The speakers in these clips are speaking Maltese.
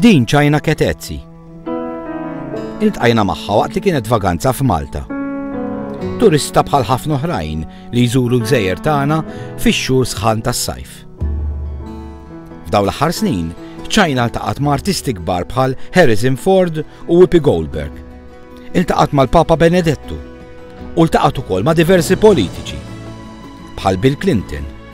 Din ċajna Ketezzi. Iltqajna magħha waqt li kienet vaganza f'Malta. Turista bħal ħafna oħrajn li jżuru l-gżejjer tagħna fix-xhur sħan tas-sajf. F'dawn l-aħħar snin, ċajna ltaqat ma' artisti kbar bħal Harrison Ford u Whoopi Goldberg. Iltaqat mal-Papa Benedettu u ltaqat ukoll ma' diversi politiċi bħal Bill Clinton,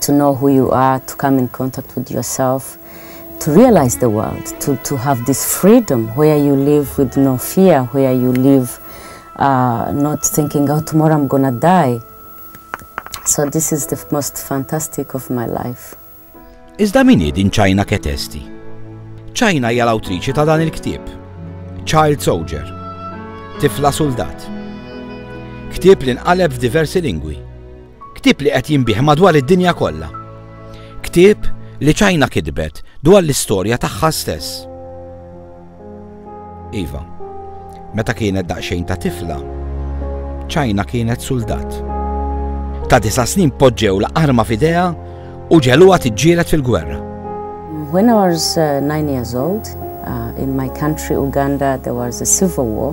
to know who you are, to come in contact with yourself, to realize the world, to, to have this freedom where you live with no fear, where you live uh, not thinking, oh, tomorrow I'm gonna die. So this is the most fantastic of my life. Iżda min din ċajna ketesti? ċajna hija l-awtriċi ta' dan il-ktieb. Child Soldier. Tifla Soldat. Ktieb li nqaleb f'diversi lingwi Ktieb li qed jinbiegħ madwar id-dinja kollha. Ktieb li China kitbet dwar l-istorja tagħha stess. Iva, meta kienet daqsxejn ta' tifla, China kienet suldat. Ta' disa' snin poġġew la arma f'idea u ġeluha tiġġielet fil-gwerra. When I was uh, nine years old, uh, in my country Uganda there was a civil war.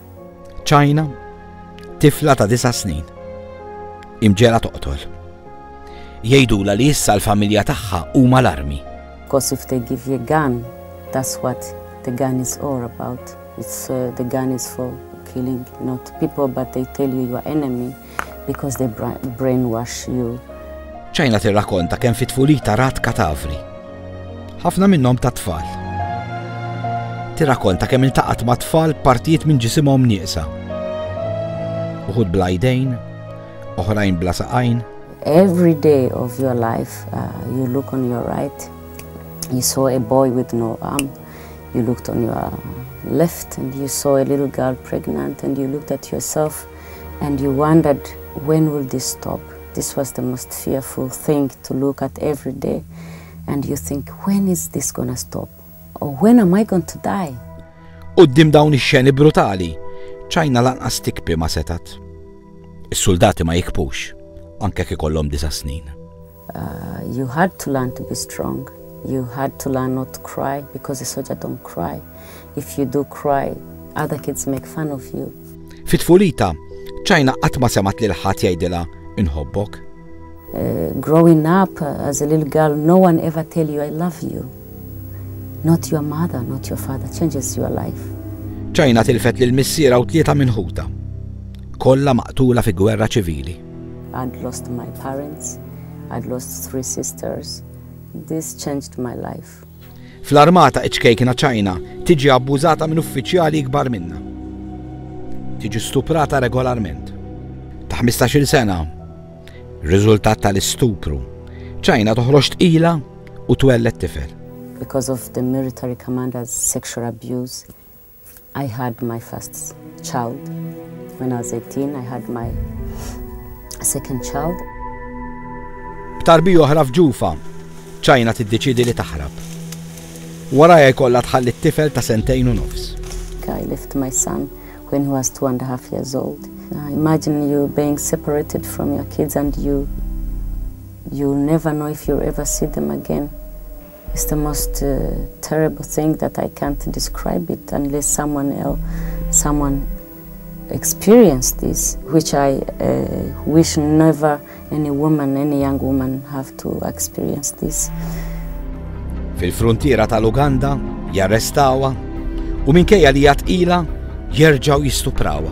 China, tifla ta' disa' snin. Imġela toqtol. Jgħidula li issa l-familja tagħha huma l-armi. Because if they give you a gun, that's what the gun is all about. It's uh, the gun is for killing not people but they tell you you are enemy. Because they brainwash you. China tirrakonta kemm fit tfulita rat katavri. Ħafna minnhom ta' tfal. Tirrakonta kemm iltaqat ma' tfal partijiet minn ġisimhom nieqsa. Uħud bla jdejn, oħrajn bla saqajn. Every day of your life, uh, you look on your right, you saw a boy with no arm, you looked on your left and you saw a little girl pregnant and you looked at yourself. and you wondered when will this stop, this was the most fearful thing to look at every day and you think when is this gonna stop or when am I going to die? Qudiem dawn ix-xeni brutali, ċajna lanqas tikpi ma setat. Is-suldati ma jikpux, anke kif ikollhom disa' snin. You had to learn to be strong, you had to learn not to cry because is-soġa don't cry, if you do cry other kids make fun of you. Fi tfulitha, China qatt ma semgħet lil ħadd jgħidilha inħobbok. Growing up as a little girl, no one ever tell you I love you. Not your mother, not your father changes your life. China tilfet lil missierha u tlieta minn ħutha. Kollha maqtula fi gwerra ċivili. I'd lost my parents, I'd lost three sisters, this changed my life. Fl-armata iċ-ċkejkna China tiġi abbużata minn uffiċjali ikbar minnha. Tiġi stuprata regolarment. Ta' 15-il sena, riżultat tal-istupru, China toħroġ tqila u twelled tifel. Because of the military commander's sexual abuse, I had my first child when I was 18, I had my second child. B'tarbija oħra f'Ġufa, China tiddeċiedi li taħrab. Warajha jkollha tħalli t-tifel ta' sentejn u nofs. I left my son when he was two and a half years old. Uh, imagine you being separated from your kids and you you never know if you'll ever see them again. It's the most terrible thing that I can't describe it unless someone else, someone experience this, which I uh, wish never any woman, any young woman have to experience this. Fil-frontiera tal-Uganda jarrestawa u minkejja li jatqila jerġaw jistuprawa.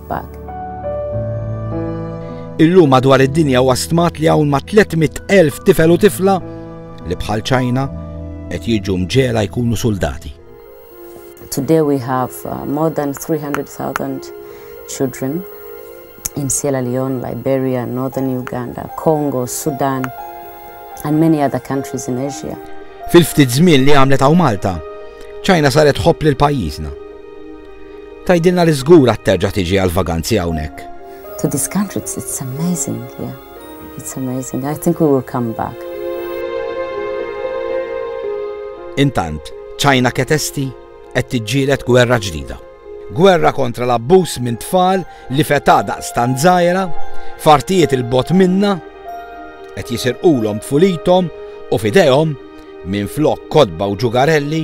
Pak. Illum madwar id-dinja huwa stmat li hawn ma' 300,000 tifel u tifla li bħal ċajna qed jiġu mġela jkunu soldati. Today we have uh, more than 300,000 children in Sierra Leone, Liberia, Northern Uganda, Congo, Sudan, and many other countries in Asia. Fil-ftit żmien li għamlet għaw Malta, ċajna saret ħobb lil pajjiżna. Tgħidilna li żgur għad terġa' tiġi għall-vaganzi hawnhekk. To this country, it's, it's amazing, yeah. It's amazing. I think we will come back. Intant, ċajna ketesti qed tiġġielet gwerra ġdida. Gwerra kontra l-abbuż minn tfal li feta daqs tanżajra, fartijiet il-bot minna, qed jisirqulhom tfulithom u fidejhom minn flok kodba u ġugarelli